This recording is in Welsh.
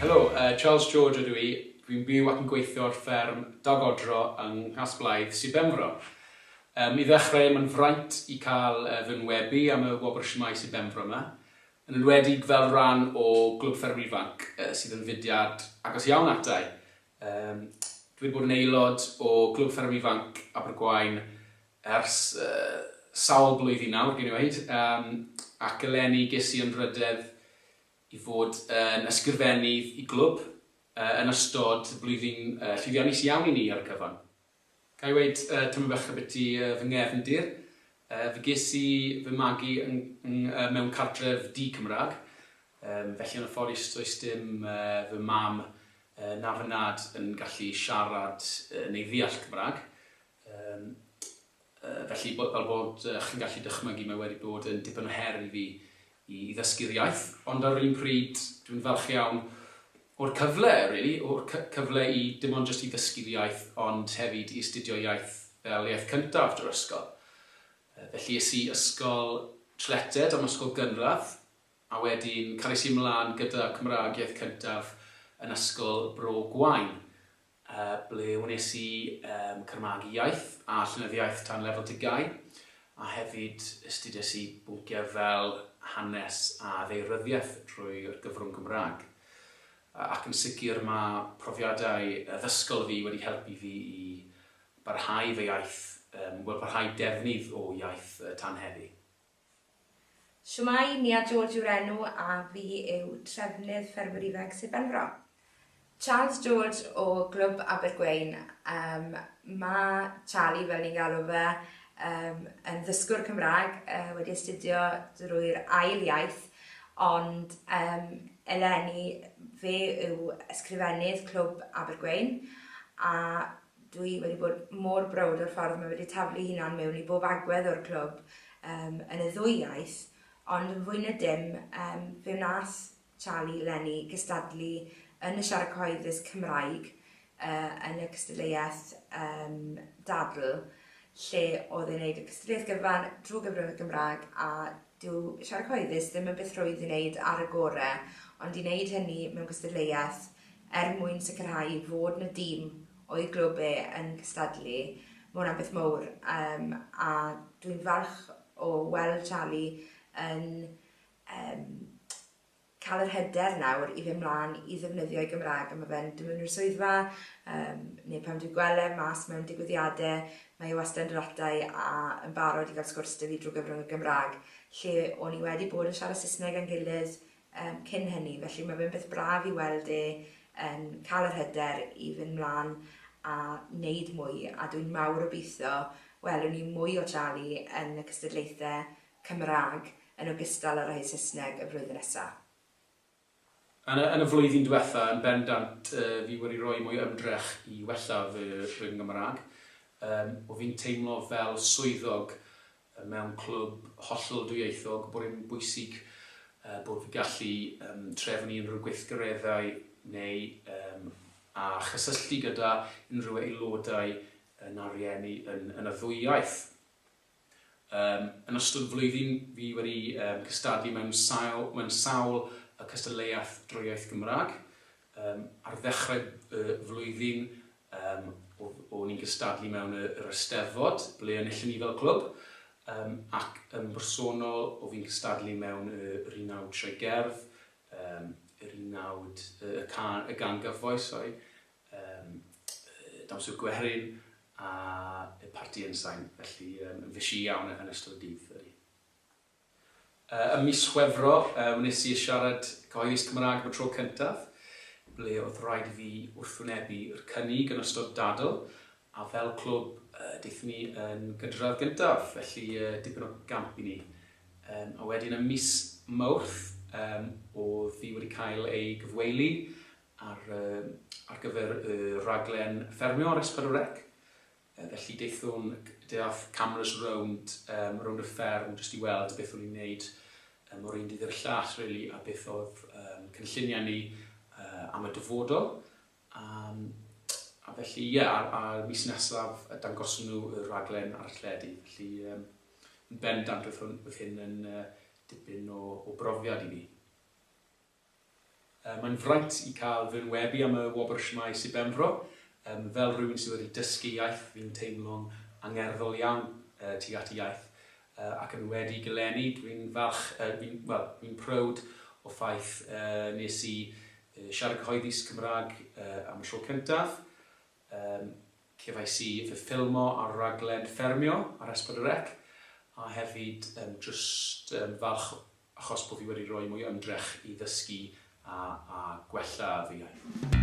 Helo, Charles George ydw i. Dwi'n byw ac yn gweithio ar fferm Dug Odro yng Nghasblaidd, Sir Benfro. I ddechrau, mae'n fraint i cael fy nhwynebu am y wobr Shwmae Sir Benfro yma, yn enwedig fel rhan o Glwb Ffermwyr Ifanc, sydd yn fudiad agos iawn ata i. Dw i wedi bod yn aelod o Glwb Ffermwyr Ifanc Abergwaun ers sawl blwyddyn nawr, gewn ni weud, ac eleni ges i anrhydedd i fod yn ysgrifennydd y glwb yn ystod blwyddyn llwyddiannus iawn i ni ar y cyfan. Ga i weud tymed bach ambiti fy nghefndir? Fe ges i fy magu mewn cartref di-Cymraeg, felly yn y Fforest does dim fy mam na fy nhad yn gallu siarad neu ddeall Cymraeg. Felly, fel bod chi'n gallu dychmygu, mae wedi bod yn dipyn o her i fi i ddysgu'r iaith, ond ar yr un pryd, dwi'n falch iawn o'r cyfle, rili, o'r cyfle i, dim ond jyst i ddysgu'r iaith, ond hefyd i astudio iaith fel iaith cyntaf drwy'r ysgol. Felly, es i ysgol Trletted am ysgol gynradd, a wedyn cariais i ymlaen gyda Cymraeg iaith cyntaf yn ysgol Bro Gwaun, ble wnes i cyrmagu iaith a llenyddiaeth dan lefel dygau, a hefyd astudies i bynciau fel hanes a ddaearyddiaeth drwy'r gyfrwng Gymraeg. Ac yn sicr mae profiadau addysgol fi wedi helpu fi i barhau fy iaith, wel, parhau defnydd o iaith tan heddi. Shwmae, Nia George yw'r enw a fi yw Trefnydd Ffermwyr Ifanc Sir Benfro. Charles George o Glwb Abergwein, um, mae Charlie fel ni'n galw fe, um, yn ddysgwr Cymraeg, uh, wedi astudio drwy'r ail iaith, ond um, eleni fe yw ysgrifennydd Clwb Abergwein a Dwi wedi bod mor browd o'r ffordd mae wedi taflu'i hunan mewn i bob agwedd o'r clwb um, yn y ddwy iaith, ond yn fwy na dim, um, fe wnaeth Charlie Lenny gystadlu yn y siarad cyhoeddus Cymraeg uh, yn y cystadleuaeth um, dadl, lle oedd e'n gwneud y cystadleuaeth gyfan drwy gyfrwng y Gymraeg a dyw siarad cyhoeddus ddim yn beth rhwydd i wneud ar y gorau, ond i wneud hynny mewn cystadleuaeth er mwyn sicrhau fod na dîm o'i glwb e yn cystadlu. Mae hwnna'n beth mowr um, a dwi'n falch o weld Charlie yn um, cael yr hyder nawr i fynd mlaen i ddefnyddio'i Gymraeg. Mae fe'n dod mewn i'r swyddfa, um, neu pan dwi'n gweld e mas mewn digwyddiadau, mae e wastad yn ratau a yn barod i gael sgwrs dy fi drwy gyfrwng y Gymraeg, lle o'n i wedi bod yn siarad Saesneg yn gilydd um, cyn hynny, felly mae fe'n beth braf i weld e yn cael yr hyder i fynd mlaen a wneud mwy, a dwi'n mawr obeithio welwn ni mwy o Charlie yn y cystadlaethau Cymraeg yn ogystal â'r rhai Saesneg y flwyddyn nesaf. Yn y, yn y flwyddyn diwetha, yn bendant, uh, fi wedi rhoi mwy ymdrech i wella fy, fy Nghymraeg. Um, o fi'n teimlo fel swyddog Mewn clwb hollol dwyieithog, bod e'n bwysig bod fi'n gallu trefnu unrhyw gweithgareddau neu a chysylltu gyda unrhyw aelodau na rhieni yn y ddwy iaith. Yn ystod y flwyddyn, fi wedi cystadlu mewn sawl cystadleuaeth drwy iaith Gymraeg. Ar ddechrau y flwyddyn, Yym, o- o'n i'n cystadlu mewn y- yr Eisteddfod, ble enillon ni fel clwb. Yym, ac yn bersonol, o' fi'n cystadlu mewn y- yr Unawd Sioe Gerdd, yym, yr Unawd y- y ca- y Gan Gyfoes, sori, yym, y Dawns y Gwerin, a y Parti Ensign. Felly, yym, yn fishi iawn yn ystod y dydd, ydy. Ym mis Chwefror, wnes i siarad cyhoeddus Cymraeg am y tro cyntaf, ble oedd rhaid i fi wrthwynebu yr cynnig yn ystod dadl, a fel clwb, daethon ni yn gydradd gyntaf, felly dipyn o gamp i ni. A wedyn ym mis Mawrth, oedd hi wedi cael ei gyfweili ar gyfer y rhaglen ffermio ar S4C, Felly daethwn, daeth cameras rownd, yym, rownd y fferm jyst i weld beth o'n i'n neud yym o'r un dydd i'r llall rili a beth o'dd yym cynlluniau ni yy am y dyfodol yym a felly ie a'r a'r mis nesaf yy dangoswn nhw y rhaglen ar y teledu felly yym yn bendant oedd hwn oedd hyn yn yy dipyn o o brofiad i mi. Mae'n fraint i cael fy enwebu am y Wobr Shwmae Sir Benfro. Fel rhywun sydd wedi dysgu iaith, fi'n teimlo'n angerddol iawn tuag at y iaith ac yn wedi gylenni. Dwi'n falch, fi'n, wel, fi'n proud o ffaith nes i siarad cyhoeddus Cymraeg am y tro cyntaf. Yym, cefais i fy ffilmo ar raglen Ffermio ar S4C, a hefyd yym jyst yn falch achos bo' fi wedi roi mwy o ymdrech i ddysgu a a gwella fy iaith.